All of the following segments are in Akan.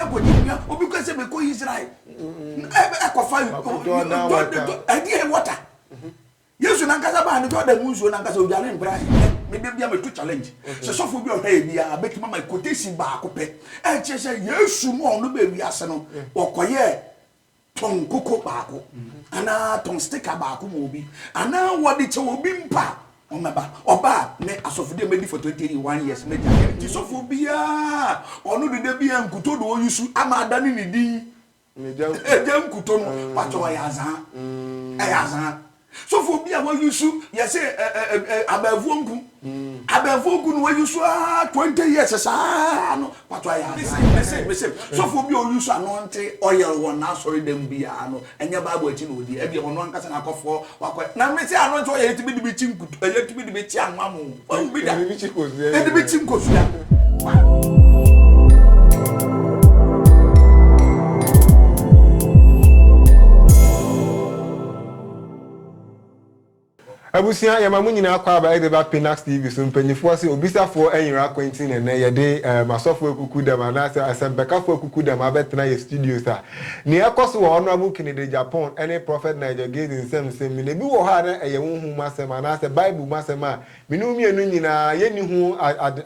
ɛkɔgye nnua obi kɔ sɛ mekɔ israel ɛkɔfa ɛdeɛ water yesu nankasa baa no jordan mu nsuo nankasa odware mpra mede bia meto challenge sɛ sɔfoɔ bi ɔhwɛ yɛ biaa bɛtumi ama quotation baako pɛ ɛkyerɛ sɛ yesu no a ɔno bɛ wiase no ɔkɔyɛɛ tɔn koko baako anaa tɔn stika baako ma obi anaa wɔde kyɛ obi mpa a ɔmɛba ɔba a me asɔfodi a mɛdi for twenty one years mɛgya yɛ nti sɔfo biara ɔno deda biara nkuto na ɔyi su ama ada ne ne din ɛgya nkuto no patɔ ɔyɛ azaa ɛyɛ azaa. Sɔfo bi a wayusu yɛsɛ abɛɛfoɔ nku abɛɛfoɔ nku no wayusu aa twenty years saa no pato ayɛ asan yɛ mesem mesem sɔfo bi a ɔyusu anɔnte ɔyɛl wɔ n'asɔre dɛm bi aa no ɛnyɛ bible akyi na ɔdi ɛdeɛ ɔno ankasa na akɔfɔ wakɔ na mese anɔnte ɔyɛl yɛtumi de bi kyi nkutu yɛtumi de bi kyi anwa mo wahu bi da yɛde bi kyi nkosua. Abusua yɛma mo nyinaa kɔ aba ɛde ba Pinax TV so mpanyinfoɔ se obisafoɔ ɛnyera akwanti na ɛnɛ yɛde ɛɛm asɔfoɔ akuku dɛm anaasɛ asɛmpɛkafoɔ akuku dɛm abɛtena yɛ studios a nea ɛkɔso wɔ Honourable Kennedy Agyapong ɛne Prophet Nigel Gaze nsɛm nsɛm mu no ebi wɔ hɔ a na ɛyɛ honhom mu asɛm anaasɛ bible mu asɛm a me ne wo mmienu nyinaa yɛnni ho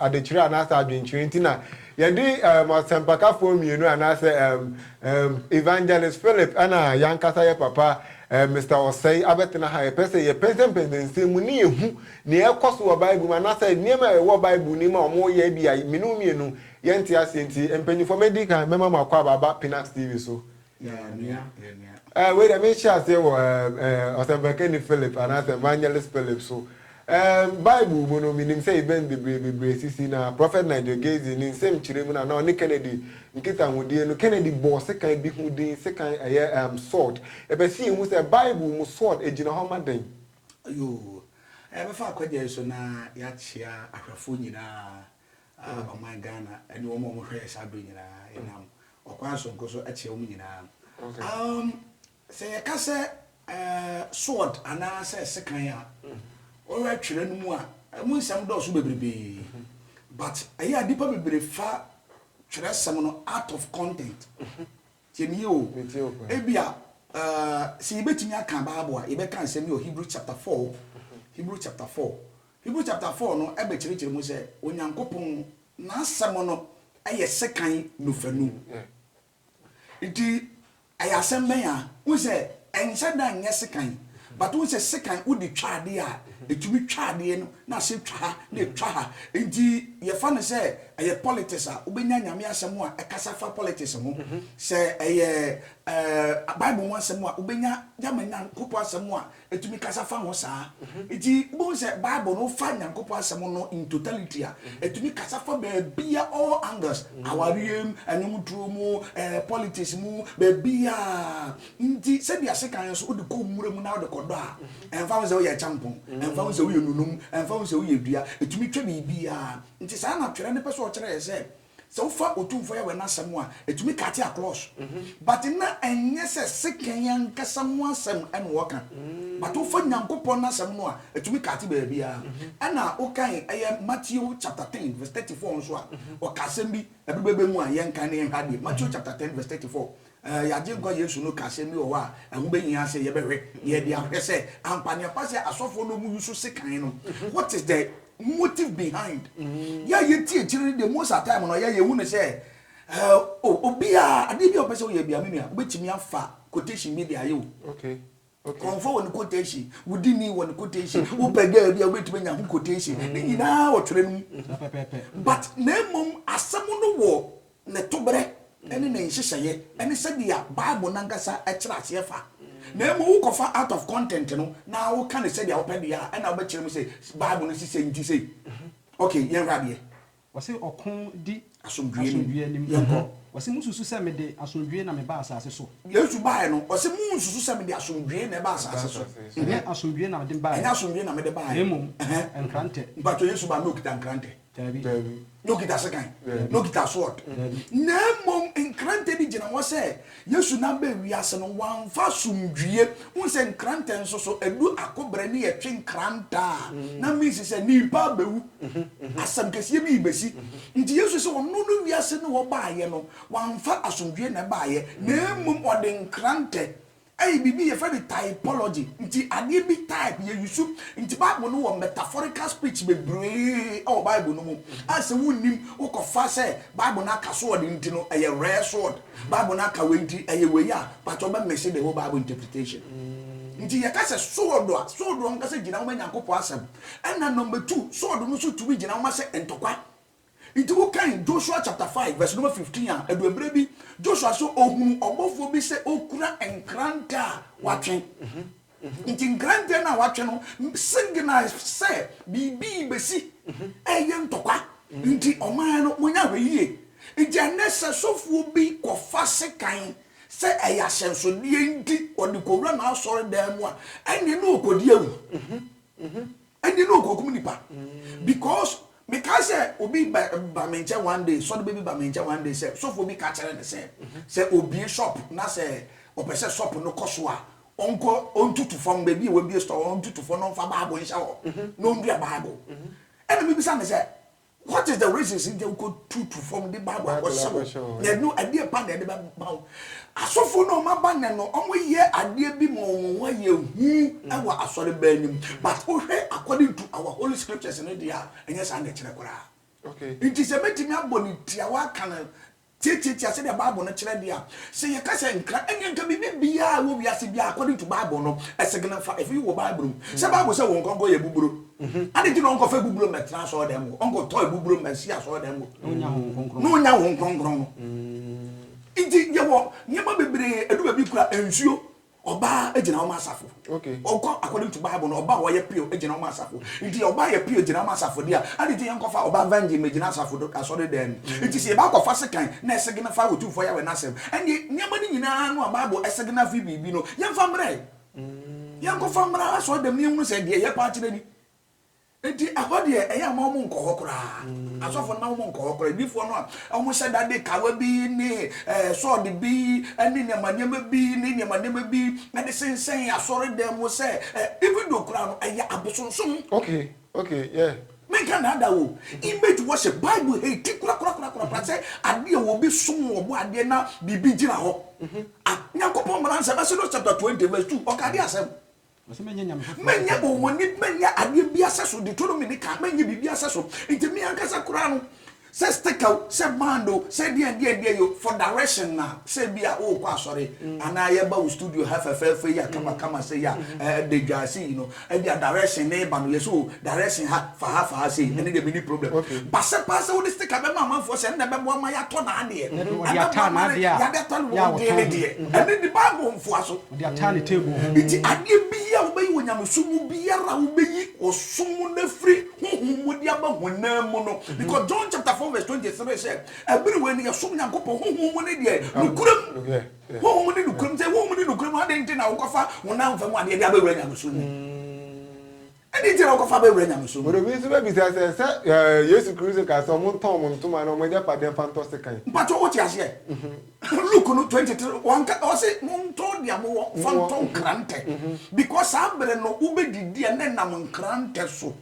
adekyerɛ anaasɛ adwenkyerɛ nti na yɛde ɛɛm asɛmpakafoɔ mmienu anaasɛ ɛɛm Ehm Evangelist Philip ɛna yankasa yɛ papa eh Mister Ɔsɛe abɛtena ha yɛpɛ sɛ yɛ pɛnsɛmpɛnsɛ nsɛm mu ne yɛ hu nea ɛkɔ so wɔ Bible mu anasɛ nneɛma a ɛwɔ Bible nim a ɔmo yɛ ebia me ne wo mmienu yɛ nte aseɛ nti mpanyinfoɔ mɛdi kan mɛma mo akɔ aba aba Pinax TV so Yɛ nua yɛ nua. Eh wei deɛ mehyɛ aseɛ wɔ eh eh Ɔsɛmpakani Philip anasɛ Evangelist Philip so. Erm Bible mu no minim sɛ event bebree bebree sisi na Prophet Nigel Gaisley ne nsɛm kyerɛ mu no a na ɔne Kennedy nkitahodie no Kennedy bɔɔ sekan bi ho din sekan ɛyɛ erm sword yɛpɛ sɛ yɛhu sɛ Bible mu sword ɛgyina hɔ ma dɛn? Yoo, yɛbɛfa akwagya yi so na yɛakyea ahwɛfoɔ nyinaa a ɔman Ghana ne wɔn a wɔhwɛ yɛn saa berɛ nyinaa. Yɛnam ɔkwan sononko so kyea wɔn nyinaa. Erm Sɛ yɛka sɛ sword anaasɛ sekan a, wohwɛ twerɛ no mu a, ɛmu nsɛm dɔɔso bebrebee. But ɛyɛ a nnipa bebree fa twerɛsɛm no out of content. Tie me yie o. Ebia sɛ yɛbɛtumi aka Bible a, yɛbɛka nsɛm bi wɔ Hebrew chapter four, Hebrew chapter four. Hebrew chapter four no bɛkyerɛkyerɛ mu sɛ Onyankopɔn n'asɛm no yɛ sekan nofanu. Nti ɛyɛ asɛm bɛn a wohu sɛ ɛnhyɛ da nyɛ sekan but wohu sɛ sekan wode twa adeɛ a ɛtumi twa adeɛ no na asan twa ha na ɛtwa ha nti yɛfa no sɛ ɛyɛ politics a wobɛnya Nyame asɛm a ɛkasa fa politics ho sɛ ɛyɛ eh, Bible mu asɛm a wobɛnya Yama Nyankopɔn asɛm a Ɛtumi kasa fa ho saa. Nti wobɛhu sɛ Bible no wofa Nyankopɔn asɛm no in totality a, ɛtumi kasa fa baabia all angles, awareɛ mu, ɛnwom turo mu, ɛɛ politics mu, baabiaa. Nti sɛdeɛ sekan nso wode kɔ nwura mu na wode kɔ dɔ a, ɛmfa ho sɛ woyɛ kyampɔn, ɛmfa ho sɛ woyɛ nunum, ɛmfa ho sɛ woyɛ dua, ɛtumi twa biribiaa. Nti saa na Twerɛ no pɛ sɛ ɔkyerɛ yɛ sɛ, Sɛ wofa Otumfoɔ Yahweh no asɛm a, ɛtumi kate across. But na ɛnyɛ sɛ sekan ankasa ho asɛm na wɔka. But wofa Nyankopɔn no asɛm no a, ɛtumi kate baabiara. Ɛna wokan ɛyɛ Matthew chapter 10 verse 34 nso a, ɔka asɛm bi, ɛbere bɛbɛ mu a yɛnkan na yɛnhwɛ adeɛ. Matthew chapter 10 verse 34, Yɛn Agyenkwa Yesu no kaa asɛm bi wɔ hɔ a ɛho behia sɛ yɛbɛhwɛ na yɛde ahwɛ sɛ ampa ne ampa sɛ asɔfoɔ no a wɔyi so sekan no, what is the motive behind? Yɛn a yɛte akyire no deɛ most of time no yɛn a yɛhu no sɛ oh, obiara, adeɛ bi a ɔpɛ sɛ ɔyɛ biara, me nua, wobɛtumi afa quotation bi de ayɛ o. Nkurɔfoɔ wɔ ne quotation, wodi ni wɔ ne quotation, wopɛ girl bi a wobɛtumi anya ho quotation. Ne nyinaa wɔtwerɛ no mu. But na mmom asɛm no wɔ ne toberɛ ne ne nhyehyɛeɛ ne sɛdeɛ Bible no ankasa kyerɛ aseɛ fa. Na mmom wokɔfa out of content no na woka no sɛdeɛ wopɛ deɛ a, ɛnna wobɛkyerɛ mu sɛ Bible no se sei nti sei. Okay, yɛnhwɛ adeɛ. Wɔse ɔko di asomdwoe anim. Wɔse munsusu sɛ mede asomdwoe na mebaa asase so. Yesu baeɛ no, ɔse munsusu sɛ mede asomdwoe na ɛbaa asase so. Ɛnyɛ asomdwoe na mede baeɛ. Ɛnyɛ asomdwoe na mede baeɛ. Na mmom nkrantɛ. Mpakyɛw, Yesu baa na ɔkita nkrantɛ? Daabi. Na ɔkita sekan? Daabi. Na ɔkita sword? Daabi. Na mmom nkrantɛ bi gyina hɔ sɛ Yesu nam bɛɛ wiase no, wamfa asomdwie. Wohu sɛ nkrantɛ nso so, ɛdu ako berɛ ne yɛtwe nkrantɛ a, na means sɛ nipa bɛwu. Asɛm kɛseɛ bi rebɛsi. Nti Yesu sɛ ɔno no wiase no ɔbaeɛ no, wamfa asomdwie na ɛbaeɛ, na mmom ɔde nkrantɛ. Ɛyɛ biribi yɛfrɛ no typology. Nti adeɛ bi type, yɛ use. Nti Bible no wɔ metaphorical speech bebree wɔ Bible no mu a sɛ wonnim, wokɔfa sɛ Bible no aka so ɔde nti no, ɛyɛ rare sword. Bible no aka wei nti ɛyɛ wei a but ɔbɛ mese the whole Bible interpretation. Nti yɛka sɛ sword a, sword no ankasa gyina hɔ ma Nyankopɔn asɛm. Ɛna number two, sword no nso tumi gyina hɔ ma sɛ ntɔkwa. Nti wokan Joshua chapter five verse number fifteen a, ɛdu mmerɛ bi Joshua so ɔhunu ɔbɔfoɔ bi sɛ ɔkura nkrantɛ a watwe. Nti nkrantɛ no a watwe no signal sɛ biribi rebɛsi, ɛyɛ ntɔkwa. Nti ɔman no monyɛ ahwɛ yie. Nti ɛnnɛ sɛ sɔfoɔ bi kɔfa sekan sɛ ɛyɛ ahyɛnsodeɛ nti ɔde kɔwura n'asɔredan mu a, ɛnneɛ na ɔrekɔdi awu. Ɛnde na okokum nipa because mekae sɛ obi ba ba me nkyɛn one day sɔre bɛ bi ba me nkyɛn one day sɛ sɔfoɔ bi ka kyerɛ ne sɛ sɛ obie shop na sɛ ɔpɛ sɛ shop no kɔ so a ɔnkɔ ɔntutu fam baabi a wabie store ɔntutu fam na ɔmfa bible nhyɛ hɔ na ɔndua bible ɛna mebisa ne sɛ What is the reasons nti wokɔ tutu fam de Bible akɔhyɛ wo? Na ɛno ɛdeɛ pa na ɛde bɛba wo. Asɔfoɔ no a wɔaba nnɛ no, wɔyɛ adeɛ bi ma wɔn ho ayɛ hu wɔ asɔreban no mu. But wohwɛ according to our holy scriptures no deɛ a, ɛnyɛ saa na ɛkyerɛ koraa. Nti sɛ mɛtumi abɔ no tiawa aka no Tiatiatia sɛdeɛ Bible no kyerɛ deɛ a. Sɛ yɛka sɛ nkra, ɛnneɛ anka biribi biara a ɛwɔ wiase biara, according to Bible no, ɛsegena fa. Ɛfiri wɔ Bible mu. Sɛ Bible sɛ wɔn nkɔnkɔn yɛ buburo. Adɛn nti na wɔnkɔfa abuburo mmɛtena asɔredan mu hɔ? Wɔnkɔtɔ abuburo mmɛsi asɔredan mu hɔ. Na wɔnnya Honhom Kronkron no. Nti yɛwɔ nneɛma bebree, ɛdu baabi koraa, nsuo, Ɔbaa gyina wɔn asafo. Okay. Ɔkɔ according to Bible no ɔbaa ɔyɛ pure gyina wɔn asafo. Nti yɛ ɔbaa yɛ pure gyina wɔn asafo deɛ a adi ti yɛn kɔfa ɔbaa virgin mɛ gyina asafo do asɔre dɛm mu. Mm. Nti sɛ yɛ ba akɔfa sekan na ɛsegene fa otumfoɔ Yahweh n'asɛm ɛnneɛ nneɛma no nyinaa no a Bible ɛsegene afi biribi no yɛn fa mmrɛ. Mm. Yɛn kɔfa mmra asɔre dɛm ne yɛn hunu sɛ deɛ yɛ paa kyerɛ ni. Enti ɛhɔ deɛ ɛyɛ a ma wɔn nkɔ hɔ koraa. Asɔfo no ma wɔn nkɔ hɔ koraa. Adiifoɔ no a wɔhyɛ da de kawa bi ne ɛɛ sɔɔde bi ne nneɛma nneɛma bi ne nneɛma nneɛma bi de sensɛn asɔredan mu sɛ ɛ even though koraa no ɛyɛ abosonsom. Okay okay yeah. Menka nnaadaa o. Image worship Bible hate korakorakorakora sɛ adeɛ a obi som wɔ bɔ adeɛ na biribi gyina hɔ. Ah Nyankopɔn mmara nsɛm Exodus chapter twenty verse two ɔka adeɛ asɛm. Ɔsɛ mɛnyɛ nyame foforɔ. Mɛnyɛ ɔmɔni mɛnyɛ adeɛ bi asɛ so Deuteronomy ne kan mɛnyɛ biribi asɛ so nti mi ankasa koraa no sɛ sticker o sɛ band o sɛ deɛ deɛ deɛ yo for direction na sɛ bi a o kɔ asɔre anaa yɛ ba o studio ha fɛfɛɛfɛ yi a kama kama sɛ yi a ɛɛ de dwa ase yi no ɛbi a direction ne ba no yɛ sɛ o direction ha fa ha fa ha sɛ yi ɛne deɛ mi ni problem ba sɛ paa sɛ o de sticker bɛ ma amanfoɔ sɛ ɛna bɛ bɔ ama yɛ atɔ na adeɛ ɛbɛ bɔ ama yɛ yɛ adeɛ atɔ na wɔn deɛ ne deɛ ɛne de bible nfoa so. Ɔde ataa ne table ho. Enti adeɛ biara a wobɛyi wɔ nyamesom mu biara a wobɛyi ɔsom mu no afiri honhom mu de aba honam mu no, because John chapter four verse twenty seree sɛ ɛbere wei no yɛsom Nyankopɔn honhom mu ne deɛ nokorɛ mu, honhom mu ne nokorɛ mu, sɛ honhom mu ne nokorɛ mu adɛn nti na wokɔfa honam fam adeɛ de abɛwura nyamesom mu? Ɛdɛn nti na wɔkɔfa bɛwura nyamesom mu? Obi nso bɛbisa sɛ, Sɛ Yesu Kristo kaa sɛ wɔntɔn wɔn ntoma ne wɔn agyapadeɛ mfa ntɔ sekan. Mpakyɛw, wote aseɛ? Luke no twenty three, wanka, ɔse, Montɔ deɛ mowɔ mfa ntɔ nkrantɛ, because saa berɛ no wobɛdidi a na ɛnam nkrantɛ so.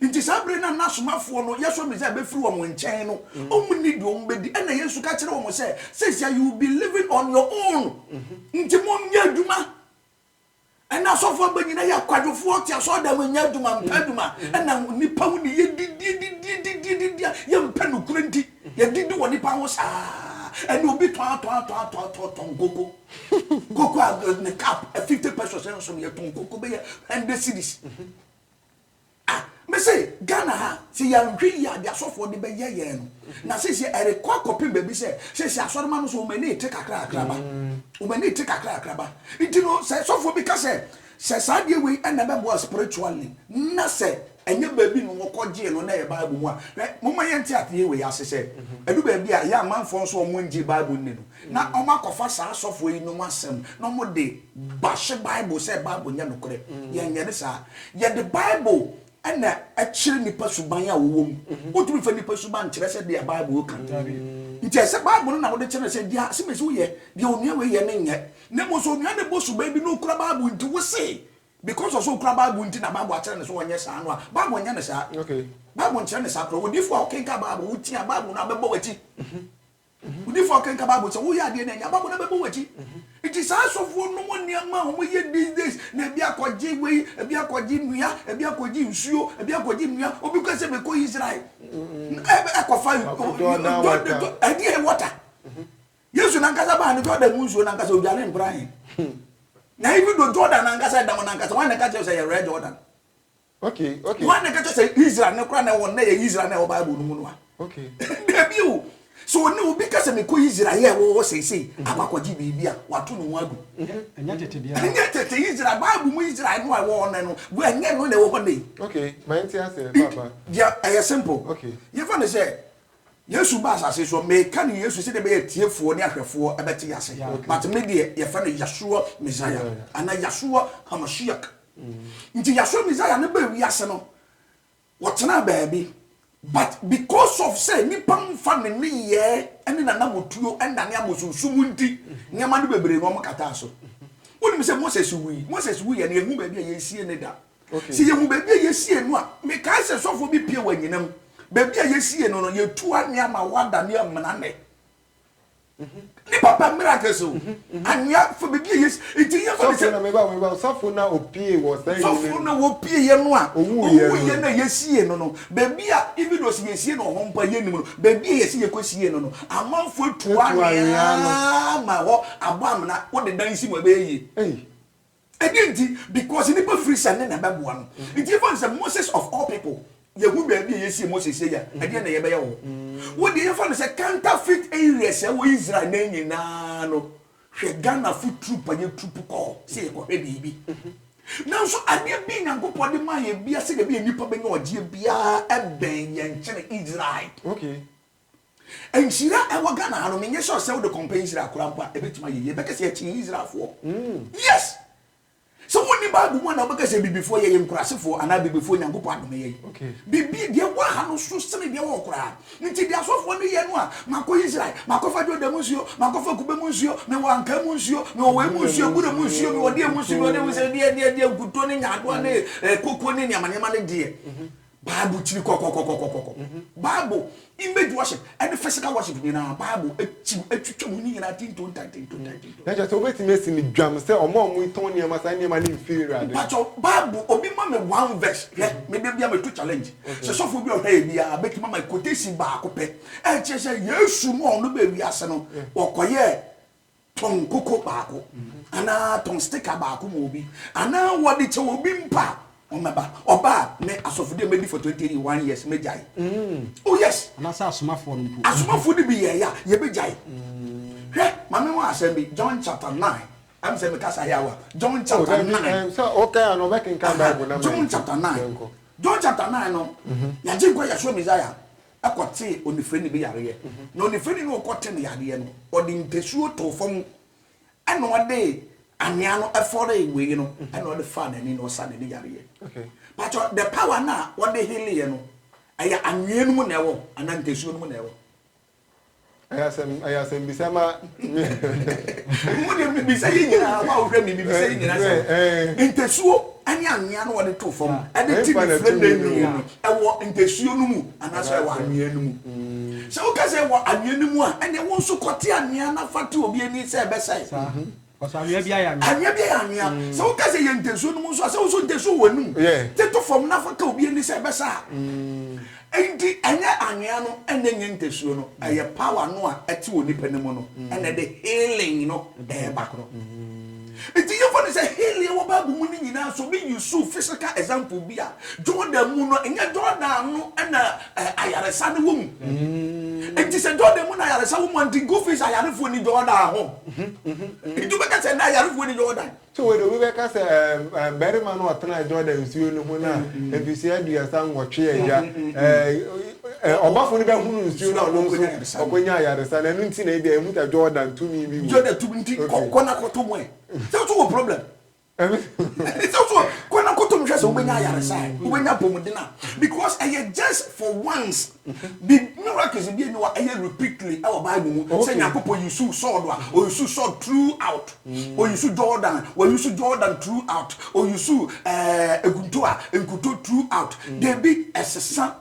Nti saa berɛ no a n'asomafoɔ no, Yɛsua Mesia bɛfiri wɔn nkyɛn no, wɔnni deɛ wɔbɛdi. Ɛnna Yesu ka kyerɛɛ wɔn sɛ, Seesei you will be living on your own, nti monyɛ adwuma. Ɛna asɔfoɔ aba nyina yɛ akwadwofoɔ ɔte asɔɔda mu nyɛ adwuma mpɛ adwuma ɛna nipa ho ne yɛ didie didie didie didie yɛ mpɛ nokore nti yɛ didi wɔ nipa ho saa ɛna obi tɔn atɔn atɔn atɔn atɔn tɔn koko koko a ne cup fifty pesos nso no yɛ tɔn koko bɛyɛ hundred cities Ah me se Ghana ha se yɛanhwɛ yie a deɛ asɔfoɔ de bɛyɛ yɛn no na seisei ɛrekɔ akɔpem baabi sɛ seisei asɔrema no nso wɔn ani rete kakrakra ba wɔn ani rete kakrakra ba nti no sɛ sɔfoɔ bi ka sɛ sɛ saa adeɛ wei na ɛbɛboa spiritually na sɛ ɛnyɛ baabi na wɔkɔgyee no na ɛyɛ bible mu a hwɛ momma yɛnte adeɛ wei ase sɛ ɛdu baabi a ɛyɛ amanfoɔ nso wɔn ngye bible nni no na wɔn akɔfa saa asɔfoɔ yinom asɛm na wɔn de Ba hye Bible sɛ Bible nyɛ nokorɛ. Yɛnyɛ no saa. Yɛde Bible na ɛkyerɛ nnipa suban a wɔwɔ mu. Wontumi mfa nnipa suban nkyerɛ sɛ deɛ Bible reka no. Nti ɛsɛ sɛ Bible no na wode kyerɛ no sɛ deɛ Simesi wo yɛ, deɛ onua wei yɛ no nyɛ. Na mmom sɛ onua no bɔ suban bi na ɔkura Bible nti wo se because ɔsɛ ɔkura Bible nti na Bible akyerɛ no sɛ ɔnyɛ saa no a, Bible nyɛ no saa. Bible nkyerɛ no saa koraa. Odiyifoɔ a wokenkan Bible, wotie a, Bible no ara bɛbɔ w'akyi. Odiyifoɔ kenka bible sɛ woyɛ adeɛ no ɛnyɛ abako na bɛbɔ wakyi nti saa asɔfoɔ nom nneɛma a wɔn yɛ these days na ebi akɔgye wei ebi akɔgye nnua ebi akɔgye nsuo ebi akɔgye nnua obi kɔ sɛ mekɔ Israel ɛkɔfa ɛdeɛ water Yesu nankasa baa no Jordan mu nsuo nankasa odwane mpran na ebi do Jordan nankasa ɛdam nankasa wɔn na ɛka kyerɛ sɛ yɛwɛ Jordan Okay, okay. Wɔn na kɛkyɛ sɛ Israel ne kora na wɔn na yɛ Israel na ɛwɔ Bible no mu no a. Okay. Dabi o. So ne obi ka sɛ mekɔ Israel yɛ ɛwɔ hɔ sɛsɛyi mhm. akɔ akɔgye biribi a wato ne ho agu. Mhm. Ɛnyɛ tete deɛ. Ɛnyɛ tete Israel Bible mu Israel no a ɛwɔ hɔ no bu ɛnyɛ no na ɛwɔ hɔ ne. Okay, maa n ti ase papa. Deɛ ɛyɛ simple. Okay. Yɛfa ne sɛ yesu ba asase so meka ne yesu sɛ de bɛyɛ tiefoɔ ne ahwɛfoɔ ɛbɛte ase but me deɛ yɛfɛ no yasuwa messiah ana yasuwa hamashiak Nti yɛasoa Messiah no baa wiase no, wɔtenaa baabi. But because of sɛ nnipa mfa ne nneyɛɛ ne n'anammɔtuo nnane abosonsom nti, nneɛma no bebree no wɔkataa so. Wonim sɛ Moses wui. Moses wuiɛ no, yɛnhu baabi a yɛsiee no da. Sɛ yɛhu baabi a yɛsiee no a, mekae sɛ sɔfoɔ bi pie wɔ anyinam. Baabi a yɛsiee no no, yɛtua nneɛma hɔ adane amena nnɛ. ne papa miracles o anwea fo bibi a yɛsi nti yɛ kɔ ne sɛ. sɔfo na meba meba sɔfo na opie wɔ saa yi ne sɔfo na opie yɛ no a owu yɛ no a yɛsie no no beebi a even though sɛ yɛsie no hɔ mpo a yɛnim no beebi a yɛsi yɛkɔ sie no no amanfo atu anwea ma hɔ abɔ amena wode dan si mu ɛbɛyɛ yie. Ɛdeɛn nti? Because nnipa firi sɛ ne na ɛbɛboa no nti. Yɛfa no sɛ Moses of all people. Yɛhu baabi a yɛsie Moses sei a, ɛdeɛn na yɛbɛyɛ wɔ ho? Wo deɛ yɛfa no sɛ counterfeit areas a ɛwɔ Israel nnɛ yi nyinaa no, hwɛ Ghanafo troop a yɛtroop kɔɔ sɛ yɛkɔhwɛ biribi. Nanso adeɛ bi Nyankopɔn de maa yɛn biara sɛdeɛ ɛbɛyɛ nnipa bɛnya ɔgyeɛ biara bɛn yɛn kyɛn Israel. Okay. Nhyira ɛwɔ Ghana ha no menyɛ sure sɛ wode compare Israel koraa mpo a ɛbɛtumi ayɛ yie. Bɛka sɛ yɛkyɛn Israelfoɔ. Yes! Sɛ wonni Bible mu a na wobɛka sɛ Abibifoɔ yɛyɛ nkurasefoɔ anaa Abibifoɔ Nyankopɔn adome yɛn. Biribi, deɛ ɛwɔ ha no so sene deɛ ɛwɔ hɔ koraa. Nti deɛ asɔfoɔ no yɛ no a, makɔ Israel, makɔfa Jordan mu nsuo, makɔfa kube mu nsuo, mewɔ ankaa mu nsuo, mewɔ wei mu nsuo, abura mu nsuo, mewɔ deɛ mu nsuo, mewɔ deɛ mu nsuo, deɛ, deɛ, deɛ, nkutoo ne nyaadoa ne kooko ne nneɛma nneɛma no deɛ. Bible kyiri kɔkɔkɔkɔkɔkɔ. Bible image worship ɛne physical worship nyinaa Bible akyi atwitwa mu ne nyinaa tintontan tintontan tintontan. Na kyerɛ sɛ wobɛtumi asi no dwam sɛ ɔmo a ɔmo tɔn nneɛma saa nneɛma no mfiri Awurade hɔ. Mpakyɛw Bible obi ma me one verse hwɛ me da biara meto challenge sɛ sɔfo bi a ɔhwɛ yɛ biara bɛtumi ama quotation baako pɛ ɛkyerɛ sɛ Yesu no a ɔno baa wiase no ɔkɔyɛɛ tɔn koko baako anaa tɔn stika baako ma obi anaa wɔde kyɛ obi mpo a ɔmɛba ɔba a me asɔfodi a mɛdi for twenty one years mɛgyae mm. oh yes anaasɛ asomafoɔ no mpo asomafoɔ no bi yɛɛyɛ a yɛbɛgyae mm. hwɛ ma me ho asɛm bi john chapter nine ɛm sɛ mekasa yɛ awa john oh, chapter nine john chapter nine john chapter nine no mhm. yɛgye nkɔ yɛsoɔ messiah kɔtee onifirani bi yareɛ, na onifirani no ɔkɔte ne yareɛ no, ɔde mpasuo too fam, ɛna ɔde anwea no fɔree wei no, ɛna ɔde faa n'ani na ɔsa n'ani yareɛ. Patɔ, the power no a ɔde heleeɛ no, ɛyɛ anwea no mu na ɛwɔ anaa mpasuo no mu na ɛwɔ? Ɛyɛ asɛm ɛyɛ asɛm bisa ma. Mo de mi bisa yɛ nyinaa wa wohwɛ mi mi bisa yɛ nyinaa sɛ ntasuo ɛne anwea no wɔde to fam ɛde ti ne fire ne nwi no ɛwɔ ntasuo no mu anaasɛ ɛwɔ anwea no mu. Sɛ woka sɛ ɛwɔ anwea no mu a ɛnna wɔn nso kɔte anwea na fa te obi ani sɛ ɛbɛsɛe. Ɔsɛ anwea bi ayɛ anwea. Anwea bi ayɛ anwea. Mm. Sɛ woka sɛ yɛ ntesuo no mu nso a sɛ wo nso ntesuo wɔ anum. Teto fam na fa ka obi ani sɛ ɛbɛsa a. Mm. Enti ɛnyɛ anwea no ɛnyɛ nyɛ ntesuo no mm. ɛyɛ power no a ɛte wɔ nipa no mu no mm. ɛna ɛde healing no ɛɛba. Enti yɛfɔ no sɛ healing wɔ Bible mu no nyinaa so bi Yusuf physical example bi a Jordan mu no ɛnyɛ Jordan no ɛna Ɛ ayaresa no wɔ mu nti sɛ dɔɔda mu na ayaresa wɔ mu nti go face ayarefoɔ ni dɔɔda ho nti wobɛka sɛ na ayarefoɔ ni dɔɔda so wei de wobɛka sɛ barima no ɔtena dɔɔda nsuo no ho na mfisua aduasa nwɔtwe agya ɔbɔfo no bɛhono nsuo na ɔno nso ɔkɔnya ayaresa na ɛno nti na ebi a ɛhu sɛ dɔɔda ntumi bi wɔ dɔɔda tumi nti kɔ na kɔto mu ɛ sɛ wɔ problem Ɛne sɛ so kɔ na kɔtɔ mu hwɛ sɛ wobɛnya ayaresa ɛ wobɛnya apɔmuden a because ɛyɛ just for once bi miracles bi ɛni wa ɛyɛ repeatedly ɛwɔ bible mu sɛ nyankopɔ yusu sɔɔdo a ɔyusu sɔɔd throughout ɔyusu jordan wɔyusu jordan throughout ɔyusu ɛɛ ekunto a nkuto throughout debi ɛsesa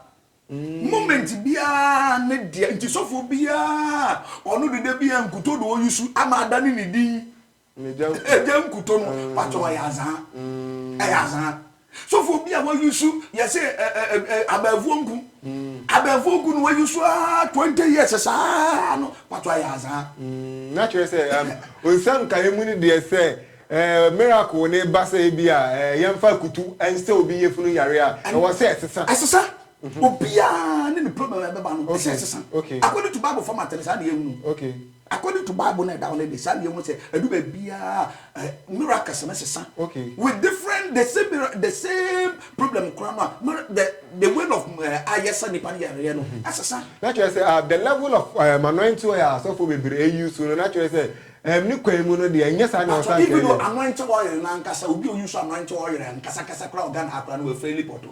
moment biara ne deɛ nti sɔfoɔ biara ɔno deda biara nkuto do ɔyusu ama ada ne ne din Egya nkutɔ no patɔ ɔyɛ azaa ɛyɛ azaa sɔfo bi a wayusu yɛ sɛ abɛɛfoɔ nku abɛɛfoɔ nku no wayusu aa twenty years saa no patɔ ayɛ azaa. Na kyerɛ sɛ nsɛm nkaeɛ mu no deɛ sɛ miracle ne ba sɛ ebi a yɛmfa akutu nsɛ obi yafunu yare a ɛwɔ sɛ ɛsesa. Ɛsesa obiara ne ne problem a ɛbɛba no ɛsɛ ɛsesa according to bible format no saa na yɛhunu. According to bible na ɛda hɔ no de saa na yɛhu sɛ ɛdu baabiara miracles no sesa okay. with different the same the same problem koraa no a the the way of eh, ayɛsa nipa no yɛreyɛ no mm-hmm. ɛsesa. na kyerɛ sɛ ah, the level of eh, anointing oil a asɔfo bebree ayi so no na kyerɛ sɛ ɛm ne kwan mu no deɛ ɛnyɛ saa na ɔsan kɛyɛ. even though anointing oil na nkasa obi a oyi so anointing oil nkasa kasa koraa ɔgan akora no wɔ fɛli pɔtɔ.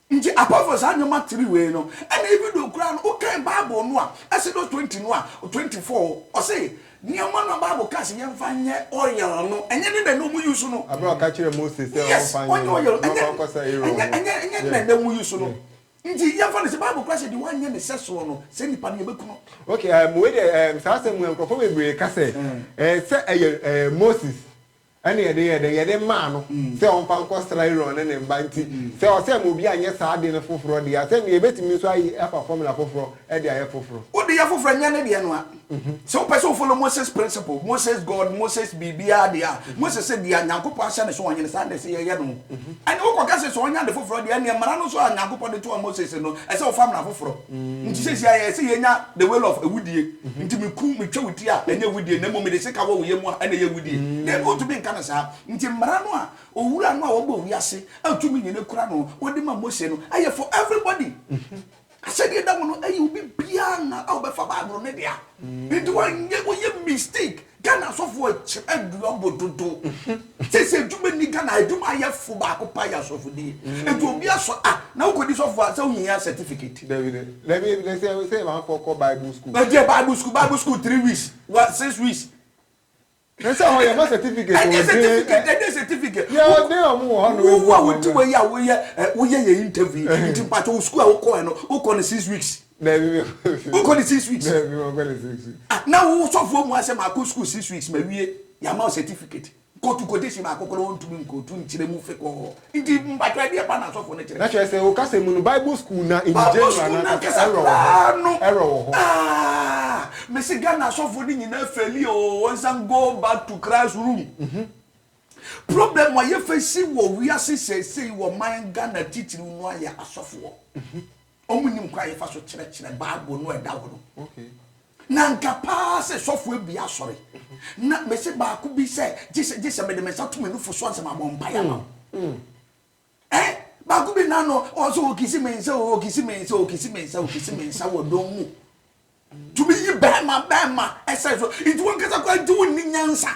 Ntsi apɔfo saa ndzɛmba tsir wei no, nna even though koraa no wokan Bible no a, Exodus twenty no a twenty four, ɔse ndzɛmba no a Bible kaa se yɛmfa nyɛ oil no, nnyɛ ne na nna ɔmo use no. Aber a ɔka kyerɛɛ Moses sɛ yes, ɔmfa nyɛ ɔnyɛ no, oil, na ɔkɔ nnyɛ, akɔsɛ Aaron nnyɛ, no, nnyɛ, nnyɛ ne na nna yeah. ɔmo use no. Ntsi yɛmfa no sɛ Bible koraa se deɛ ɔannyɛ ne sɛsoɔ no, saa nyimpa no yɛbɛku no. Ok, um, wei deɛ, um, saa asɛm mu, nkorɔfoɔ bebree ka sɛ, eh, sɛ ɛyɛ, eh, Moses Ɛna yɛde yɛɛ dɛn? Yɛde maa no sɛ ɔmfa nkɔsra Aaron ne ne mma. Nti, sɛ ɔsɛ ma obi anyɛ saa ade no foforɔ deɛ a, sɛdeɛ yɛbɛtumi nso ayi afa formula foforɔ de ayɛ foforɔ. Wode yɛ foforɔ a, nyɛ ne deɛ no ara. Sɛ wopɛ sɛ wo follow Moses principle, Moses God, Moses biribiara deɛ a, Moses sɛ deɛ Nyankopɔn ahyɛ no sɛ ɔnyɛ no, saa na ɛsɛ yɛyɛ no. Ɛnneɛ wokɔka sɛ, sɛ ɔnyɛ ade foforɔ deɛ, ɛnneɛ mmara no nso a Nyankopɔn de toaa Moses no, ɛsɛ ɔfa mmara foforɔ. Nti seesei ayɛ sɛ yɛanya the will of awudie, nti meku, metwa wo ti a, ɛnyɛ awudie, na mmom mede sika wɔ wo yam a, ɛna ɛyɛ awudie. Dabi, wontumi nka no saa. Nti mmara no a Owura no a ɔbɔɔ wiase a tumi nyina kura no no de maa Mose no, ɛyɛ for everybody. Ahyɛdeɛ da hɔ no, ɛyɛ obi biara a wobɛfa Bible no dea. Nti wonyɛ mistake Ghana asɔfo ɛkyɛ aduan bɔ dodo. Sese adwuma ni Ghana adwuma ayɛ fo baako pa yɛ asɔfo die. Etu obi asɔ a na wokɔ di sɔfo a sɛ wohia certificate. Dabi dɛ. Dabi ebi dɛ sɛ sɛ ma kɔ kɔ bible school. Ɛdeɛ bible school bible school three weeks wa six weeks. Ne sɛ hɔ yɛ ma certificate o. Ɛdeɛ certificate ɛdeɛ certificate. Yɛ ɔde ɔmo wɔ hɔ no. Wo wo a wodi wɔ yi a woyɛ woyɛ yɛ interview nti mpatsɔ wo school a wokɔ yɛ no wokɔ no six weeks. wokɔ ne six weeks ah, na wo sɔfoɔ mu asɛ maakɔ school six weeks mawie yɛama wo certificate kɔtu kɔtesi baako korɔ ɔntumi nkɔtu nkyerɛ mu fe kɔɔ nti mpatwa deɛ pa na asɔfoɔ no kyerɛ na kyerɛ sɛ wokasɛ mu no bible school na in general na kasa ɛrɔ wɔ hɔ ɛrɔ wɔ hɔ ah, mese ghana asɔfoɔ no nyinaa fɛli o oh, wɔnsan go back to christ room mhm. problem a yɛfɛ si wɔ wiase sɛsei wɔ man ghana titiriw no ayɛ asɔfoɔ mhm. Wɔnnim kwan a yɛfa so kyerɛkyerɛ Bible no a ɛda hɔ no. Na anka paa sɛ sɔfo abue asɔre, na mese baako bi sɛ, gye sɛ, gye sɛ mede me nsa to me nufu so ansa mabɔ mpaeɛ ama wo. Ɛ? Baako bi na no, ɔsɛ ɔkisi me nsa, ɔkisi me nsa, ɔkisi me nsa, ɔkisi me nsa wɔ dɔm mu. Tumi yi bɛrima bɛrima ɛsɛ so, nti wankasa koraa gye wo nni nyansa.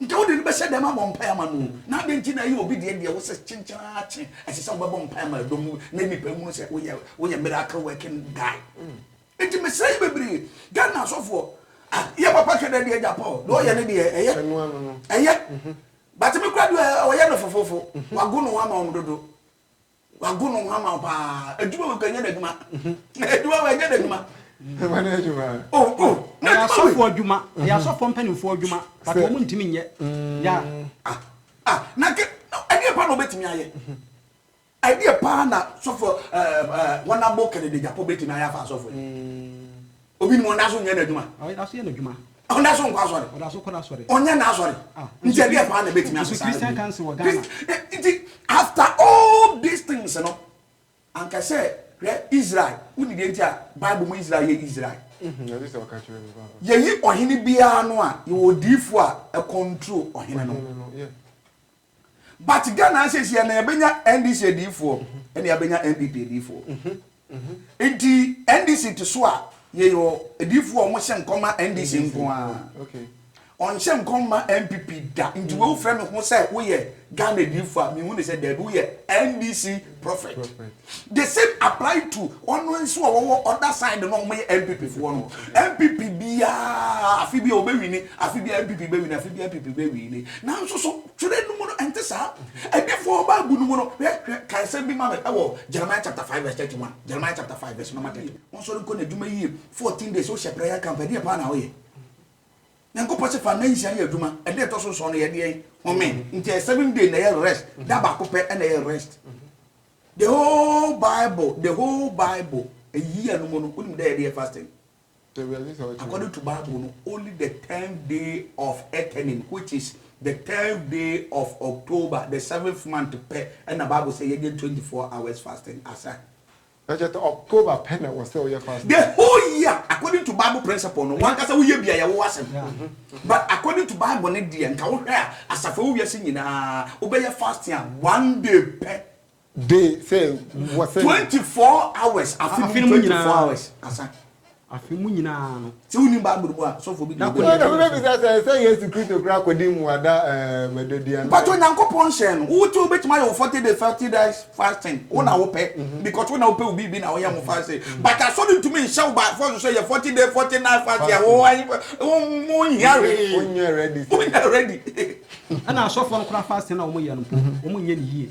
Nka wode no bɛhyɛ dɛm abɔ mpae ama no o, na adɛn nti na ɛyɛ obi deɛ deɛ wo sɛ kyenkyen ara kye, ɛsɛ sɛ wobɛbɔ mpae ama dɔm no na nnipa nhunu sɛ woyɛ woyɛ miracle working guy. Nti mesrɛ yi bebree, Ghana asɔfoɔ, ah, yɛ papa hwɛ dɛ deɛ agya Paul, deɛ ɔyɛ no deɛ ɛyɛ, ɛyɛ, but me kora deɛ ɔyɛ no fofofo, wago no ho ama wɔn dodo. Wago no ho ama wo paa. Adwuma wɔ kanyɛ n'adwuma. Adwuma wɔ ɛnyɛ n'adwuma. Ɛma no adwuma. O o. Ɛyɛ asɔfo adwuma. Ɛyɛ asɔfo mpanimfoɔ adwuma. But wɔn ntumi nyɛ. Ya. Ah ah na ke ɛdeɛ pa na obetumi ayɛ. Ɛdeɛ paa na sɔfo ɛɛ wɔn abo kɛnɛdɛ gyapɔ betumi ayɛ afa asɔfo yi. Obi nim ɔnda so nyɛ n'adwuma. Ɔda so yɛ n'adwuma. Ɔnda so nkɔ asɔre. Ɔda so kɔ n'asɔre. Ɔnyɛ n'asɔre. Ah. Nti ɛdeɛ paa na ɛbɛtumi asesa. Christian council wɔ Ghana. Nti after all these things no anka sɛ hwɛ Israel woni deɛ nti a Bible mu Israel yɛ Israel. Mm-hmm. Yɛyi ɔhene biara no a yɛwɔ odiifo a ɛcontrol ɔhene no. But Ghana asiesie na yɛbɛnya NDC adiifoɔ ɛna yɛbɛnya NPP adiifoɔ. Nti NDC te so a yɛyɔ adiifoɔ a wɔhyɛ nkɔm ma NDC nko a. Ɔnhyɛ nkɔm ma NPP da. Nti mm. wofrɛ me ho sɛ woyɛ Ghana adiifoɔ a mehu ne sɛ daabi woyɛ NDC prophet. The same apply to wɔn nso a wɔwɔ other side no a wɔyɛ NPP foɔ no. NPP biara afe bi a wɔbɛwini, afe bi a NPP bɛwini, afe bi a NPP bɛwini. Nanso so twerɛ no mu no ɛnte saa? Adifoɔ Bible no mu no, hwɛ, hwɛ, ka nsɛm bi ma me wɔ Jeremiah chapter five verse thirty one. Jeremiah chapter five verse number thirty one. Wɔnsɔre nkɔ n'adwuma yie fourteen days wohyɛ prayer camp ɛdeɛ paa na woyɛ? Nyankopɔn se fa nna nsia yɛ adwuma, ɛda ɛtɔ so nson no yɛ deɛn? Home. Nti ɛyɛ seven day na ɛyɛ rest, da baako pɛ na ɛyɛ rest. The whole bible the whole bible a year no mu no wonim dɛ yɛde yɛ fasting according to bible no only the tenth day of etening which is the tenth day of october the seventh month pɛ ɛna bible sɛ yɛnyɛ twenty four hours fasting asa. ɛkyɛ sɛ october pɛ na ɛwɔ sɛ woyɛ fasting. the whole year according to bible principle no wankasa woyɛ bi a yɛwo w'asɛm. But according to bible no deɛ nka wo hwɛ a asafo ɛwɔ wiase nyinaa wo bɛyɛ fasting a one day pɛ. Day sɛ wɔ sɛ. Twenty four hours afe mu twenty four hours asa. Afe mu nyinaa no. Sɛ wo nim bible no mu a sɔfo bi deɛ. Ɛna wo bɛ bisa sɛ ɛsɛ yesu kristo kura akɔdi mmuada ɛɛ mɛdɔdua no. Mpatsɔ nyankopɔn hyɛɛ no wo ti wo bɛ tumi ayɛ wo forty day forty days. fasting wo na wopɛ mm-hmm. because wo na wopɛ wo biribi na woyɛ ho fasting mm-hmm. but asɔre ntumi nhyɛ wo by force sɛ yɛ forty day forty night fasting a wo ayi wo nyɛ ready wo nyɛ ready wo nyɛ ready. ɛna asɔfoɔ no kora fasting na wɔn yɛ no po mm-hmm. wɔn nyɛ ne yie.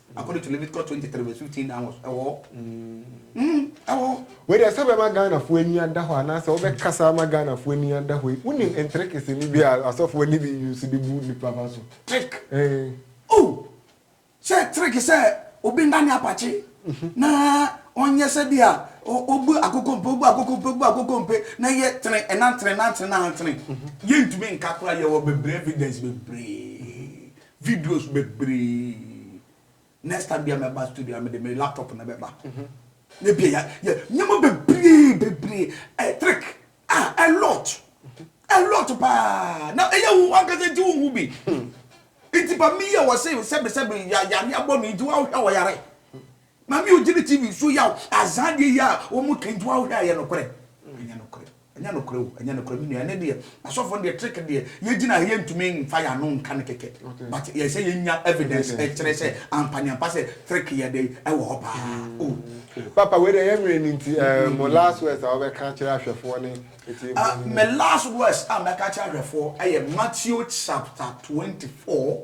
According to Leviticus twenty three verse fifteen onwards, ɛwɔ hɔ. Mm, ɛwɔ hɔ. Wei deɛ sɛ bɛma Ghanafoɔ ani ada hɔ anaasɛ wobɛkasa ama Ghanafoɔ ani ada hɔ yi, wonim ntrikisi no bi a asɔfoɔ no bi use de bu nnipa fa so? Trick. Ee. Oh! Sɛ trick sɛ obi nna ne apakye na ɔnyɛ sɛ bi a ɔbu akokompe, ɔbu akokompe, ɔbu akokompe na yɛ tene ɛnantene nantene nantene. Yɛntumi nka koraa yɛwɔ bebree evidence bebree. Videos bebree next time bia mɛba studio a mede me laptop na bɛba na ebia yɛ yɛ nneɛma bebree bebree ɛyɛ trick ah a lot a lot paa na ɛyɛ wo ankasa nti wo hu bi nti ba mi yɛ wɔ se sɛbi sɛbi ya yare abɔ mi nti wa hwɛ wɔ yare maame yi ogyina tv so yaw azaa deɛ yi a wɔn ka nti wa hwɛ ayɛ nokorɛ ɛnyɛ nokorɛ. Ɛnyɛ nokorɛ o, ɛnyɛ nokorɛ me nua, ɛnɛ deɛ asɔfoɔ no deɛ trick deɛ yɛgyina ha yɛntumi nfa yɛn ano nka no kɛkɛ but ɛyɛ sɛ yɛnya evidence ɛkyerɛ sɛ ampaneampa sɛ trick yɛ dɛn ɛwɔ hɔ paa o. Papa wei deɛ yɛ nwene no nti ɛɛ mo last words a wobɛka akyerɛ ahwɛfoɔ ne atiefoɔ no ni. Me last words a mɛka akyerɛ ahwɛfoɔ ɛyɛ Matthew chapter twenty four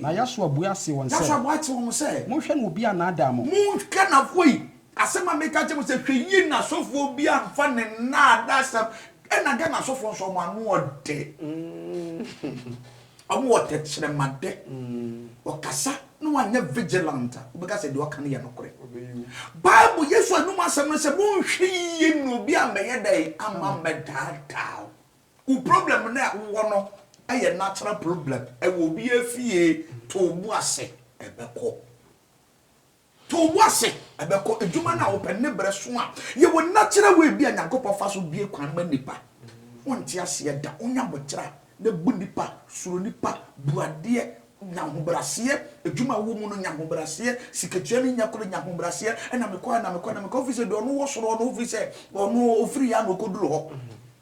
Na Yasua buaa see wɔn sɛ, Monhwɛ na obi annaadaa mo. Monhwɛ na afei, asɛm a meka kyerɛ mo sɛ, hwɛ yie na asɔfoɔ bi amfa ne nnaadaasɛm, ɛna Ghana asɔfoɔ nso wɔn ano ɔdɛ, wɔn wɔ tɛkyerɛmadɛ, ɔkasa na wanyɛ vigilant a, wobɛka sɛ deɛ ɔka no yɛ nokorɛ. Bible, Yesu anum asɛm no sɛ, monhwɛ yie na obi ammɛyɛ dɛn, amma ammɛdaadaa wo. Wo problem no a wo wɔ no yɛ natural problem ɛwɔ obiaa fie to wo bo ase ɛbɛkɔ to wo bo ase ɛbɛkɔ adwuma no a wo pɛ ne brɛ so a yɛ wɔ natural way bi a Nyankopɔn fa so bue kwan ma nipa wo nte aseɛ da wo nya botra na bu nipa suro nipa bu adeɛ nya ahobraseɛ adwuma a wo wɔ mu no nya ahobraseɛ sikatua no nya koro nya ahobraseɛ ɛna mekɔ ɛna mekɔ ɛna mekɔ ofiri sɛ deɛ ɔno wɔ soro ɔno ofiri sɛ ɔno ofiri yɛ a na ɔkɔduru hɔ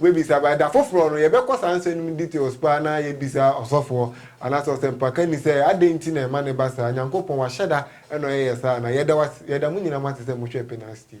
Wobɛbisa but da foforɔ no yɛbɛkɔ saa nsɛm no mu details paa na yɛabisa ɔsɔfoɔ anaasɛ ɔsɛmpakani sɛ adɛn nti na ɛma no ba saa, Nyankopɔn wahyɛda na ɔyɛ yɛ saa anaa? Yɛda wo ase, yɛda mo nyinaa mo ase sɛ mohwɛɛ Penas TV.